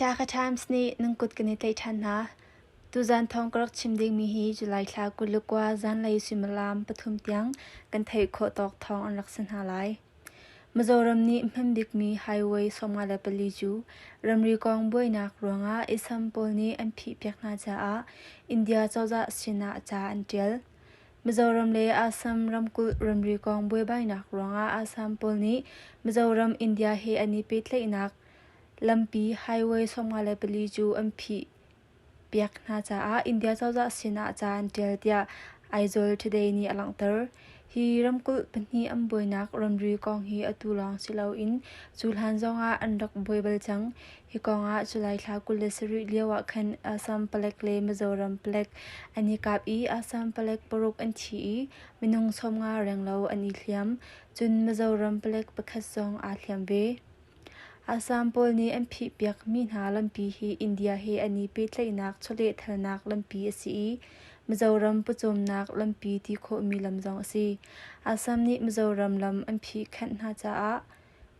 Dhaka Times nih nan kut kan i tlaih ṭhan hna. Tuzan thawng ka rak chim dingmi hi July thla kulukua zanlei suimilam pathum tiang kan theih khawh tawk thawng an rak si hna lai. Mizoram nih hman bikmi highway sawmnga le pali cu ramri kong buainak ruangah isam pawl nih an phihpiak hna caah India cozah sinah ca an ṭial. Mizoram le Assam ramkulh ramri kong buaibainak ruangah Assam pawl nih Mizoram India he an i pehtlaihnak lampi highway sawmnga le pali cu an phih piak hna caah India cozah sinah ca an ṭial tiah Aizawl Today nih a langhter. Hi ramkulh pahnih an buainak ramri kong hi atu lawng si loin cu hlan zongah an rak buai bal cang. Hi kongah July thla kul le sarih lioah khan Assam palek le Mizoram palek an i kap i Assam palek paruk an thi i minung sawmnga renglo an i hliam, cun Mizoram palek pakhat zong aa hliam ve. Assam pawl nih an phihpiak mi hna lampi hi India he an i pehtlaihnak chawlehthalnak lampi a si i Mizoram pawcawmnak lampi ti khawhmi lam zong a si. Assam nih Mizoram lam an phih khanh hna caah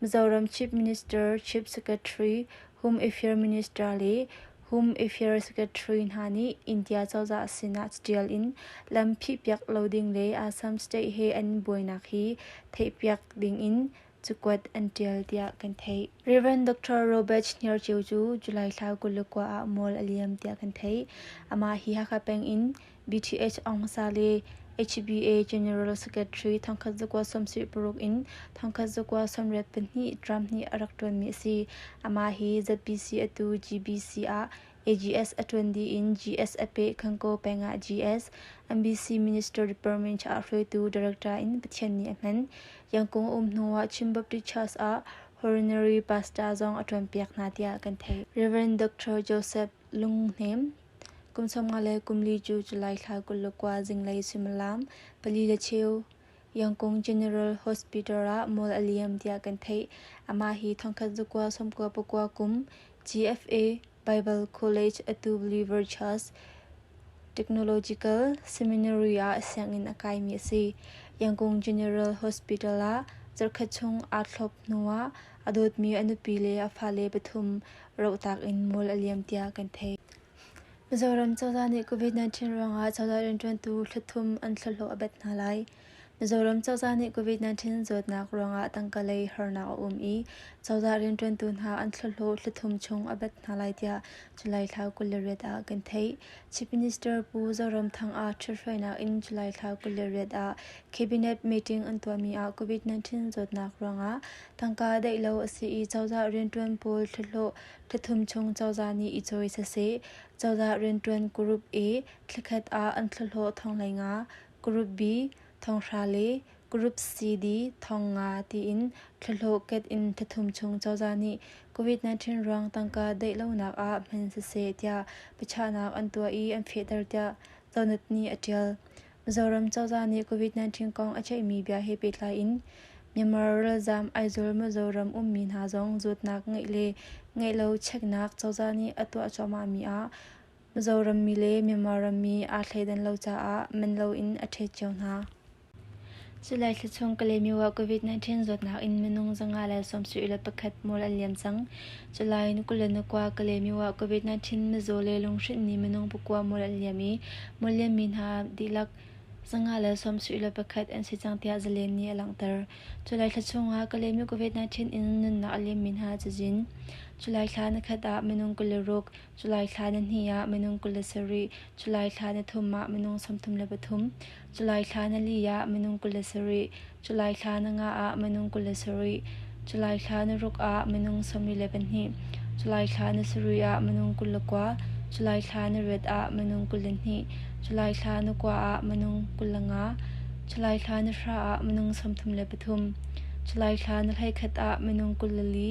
Mizoram Chief Minister, Chief Secretary, Home Affairs Minister le Home Affairs Secretary hna nih India cozah sinah ṭial in lam phihpiak lo ding le Assam State he an buainak hi theihpiak dingin cakuat an ṭial tiah kan theih. Rev. Dr. Robert Hniarcheu cu July thla kul le kua ah mual a liam tiah kan theih. Amah hi Hakha peng in BTH Aung Sa le HBA General Secretary thangkhat zakua sawmsarih paruk in thangkhat zakua sawmriat pahnih Trump nih a rak ṭuanmi a si. Amah hi ZBC atu GBC ah AGS a ṭuan dih in GS a peh Khanko peng ah GS, NBC Minister Department ah hruaitu director in Pathian nih a hman. Yangkung um hnu ah Chin Baptist Church ah horonary pastor zong a ṭuanpiak hna tiah kan theih. Reverend Dr. Joseph Lung Hnem Kum sawmnga le kumli cu July thla kul le kua zinglei suimilam pali le cheu Yangkung General Hospital ah mual a liam tiah kan theih. Amah hi thongkhat zakua sawmkua pakua kum GFA Bible College a tu Believer Church Technological Seminary ah sianginn a kaimi a si. Yangkung General Hospital ah zarhkhat chung aa thlop hnuah a dawtmi a nupi le a fale pathum rohtak in mual a liam tiah kan theih. Mizoram cozah nih COVID-19 ruangah cozah rianṭuantu thluthum an thlahlawh a bet hna lai. Mizoram cozah nih COVID-19 zawtnak ruangah tangkalei harnak a um i cozah rianṭuantu hna an thlahlawh thlithum chung a bet hna lai tiah July thla kul le riat ah kan theih. Chief Minister Pu Zoram Thang ah ṭhithruainak in July thla kul le riat ah Cabinet meeting an tuahmi ah COVID-19 zawtnak ruangah Tangka daih lo a si i cozah rianṭuan pawl thluahlawh thla thum chung cozah nih i cawi saseh. Cozah rianṭuan group A thlakhat ah an thluahlawh thong hlei nga, group B thong hra le group CD thong nga tiin thluahlawh ket in thla thum chung cozah nih COVID-19 ruang tangka daih lonak ah hman saseh tiah biachahnak an tuah i an fehter tiah Donut nih a ṭial. Zoram cozah nih COVID-19 kong a theihmi bia he pehtlai in Myanmar ralzaam Aizawl Mizoram ummi hna zong zawtnak ngeih le ngeih lo cheknak cozah nih a tuah cuahmahmi ah Mizoram mi le Myanmar rammi aa thleidan lo caah man loin a ṭhet cio hna. July thla chung Kalemi ah COVID-19 zawtnak in minung zanga le sawmsih le pakhat mual an liam cang. July ni kul le ni kwa Kalemi ah COVID-19 mizaw le lunghrinh nih minung pakua mual an liam i mual liammi hna dihlak zanga le sawmsih le pakhat an si cang tiah zalen nih a langhter. July thla chung ah Kalemi COVID-19 in nunnak a liammi hna cazin July thla na khat ah minung kul le ruk July thla ni hnih ah minung kul le sarih, July thla ni thum ah minung sawmthum le pathum, July thla ni li ah minung kul le sarih, July thla ni nga ah minung kul le sarih, July thla ni ruk ah minung sawmri le pahnih, July thla ni sarih ah minung kul le kua, July thla ni riat ah minung kul le hnih, July thla ni kua ah minung kul le nga, July thla ni hra ah minung sawmthum le pathum, July thla ni hlei khat ah minung kul le li,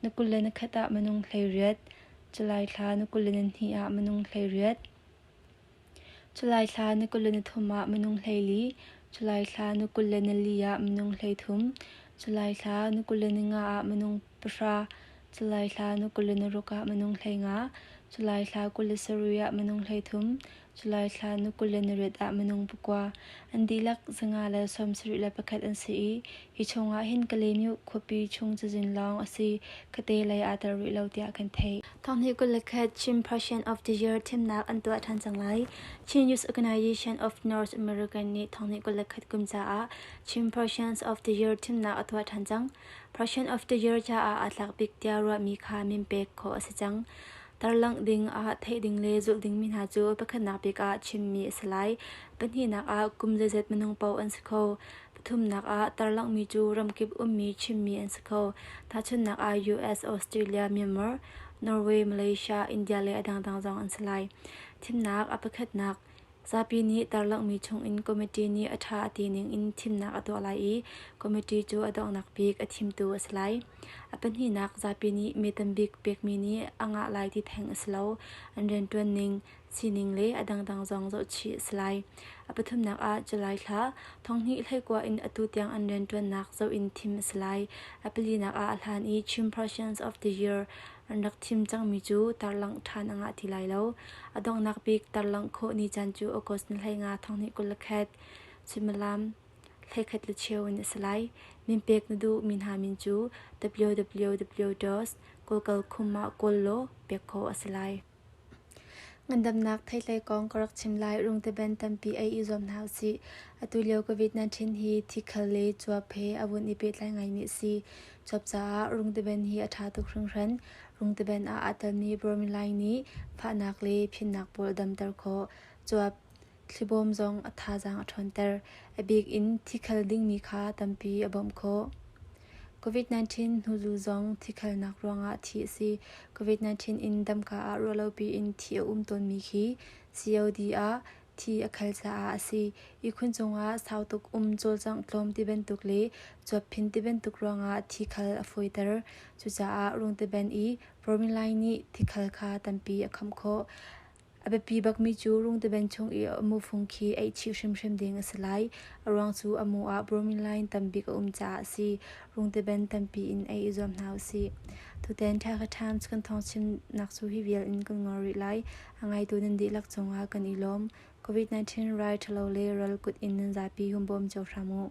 Na kul le na khat ah minung hleiriat. July thla na kul le na hnih ah minung hleiriat. July thla na kul le na thum ah minung hleili. July thla na kul le na li ah minung hleithum. July thla na kul le na nga ah minung pahra. July thla na kul le na ruk ah minung hleinga. July thla kul le sarui ah minung hleithum. July thla ni kul le narut ah minung pakua an dihlak zanga le sawmsarih le pakhat an si i hi chungah hin Kalaymyo khuapi chung cazin lawng a si ka te lei aa tel rih lo tiah kan theih. Thonghni kul le khat Chin Prussian of the Year thimnak an tuah ṭhan cang lai. Chin Youth Organization of North American nih thonghni kul le khat kum caah Chin Prussians of the Year thimnak a tuah ṭhan cang. Prussian of the Year caah aa tlak bik tiah ruahmi kha min pek khawh a si cang. Tarlangh ding ah theih ding le zulh dingmi hna cu pakhatnak bik ah chimmi a si lai. Pahnihnak ah kum zeizat minung paoh an si kho. Pathumnak ah tarlanghmi cu ramkip ummi chimmi an si kho. Tahchunhnak ah US, Australia, Myanmar, Norway, Malaysia, India le a dangdang zong an si lai. Thimnak a pakhatnak Zapi nih tarlanghmi chungin committee nih a ṭha a ti ningin thimnak a tuah lai i committee cu a donghnak bik a thimtu a si lai. A pahnihnak zapi nih mee tambik pekmi nih a ngah lai ti theng a si lo. An rianṭuan ning, sining le a dangdang zong zohchih a si lai. A pathumnak ah July thla thonghnih hleikua in atu tiang an rianṭuannak zoh in thim a si lai. A palinak ah a hlan i Chairpersons of the Year An rak chim cangmi cu tarlangh ṭhan a ngah ti lai lo. A donghnak bik tarlangh khawh ni caan cu August ni hleinga thonghnih kul le khat, suimilam hlekhat le cheu in a si lai. Min pek na duh mi hna min cu www. gokalkhum ah kawl law pek khawh a si lai. Ngandamnak theihhlei kong ka rak chim lai. Rungteban tampi ei i zuam hna usih. Atulio COVID-19 hi thikhal le cuap he a vun i pehtlai ngaimi a si. Cuap caah rungteban hi a ṭha tuk hringhran. Rungteban ah aa telmi bormilaing nih fahnak le phimnak pawl a damter khawh. Cuap thlibawm zong a thazaang a ṭhawnter, a bik in thi khal dingmi kha tampi a bawmh khawh. COVID-19 hnuzu zong thi khalnak ruangah thi a si. COVID-19 in damka ah ruahlopi in thi a um tawnmi khi COD ah thi a khal caah a si. Ihkhun cungah sautuk um cawlcangh tlawm ti bantuk le cuap phin ti bantuk ruangah thi khal a fawiter. Cucaah rungteban i formular nih thi khal kha tampi a khamh khawh. A biapi bakmi cu rungtaven chung i a mufung khi aih chih hrimhrim ding a si lai. A ruang cu a mu ah bromine line tambik a um caah a si. Rungtaven tampi in ei i zuam hna u sih. Tutan Thaika Times kan thawngchimnak cu hi vial in kan ngol rih lai. A ngaitu nan dihlak cungah kan i lawm. COVID-19 rai ṭhalo le ral kut in nan zapi humbawm cio hram u.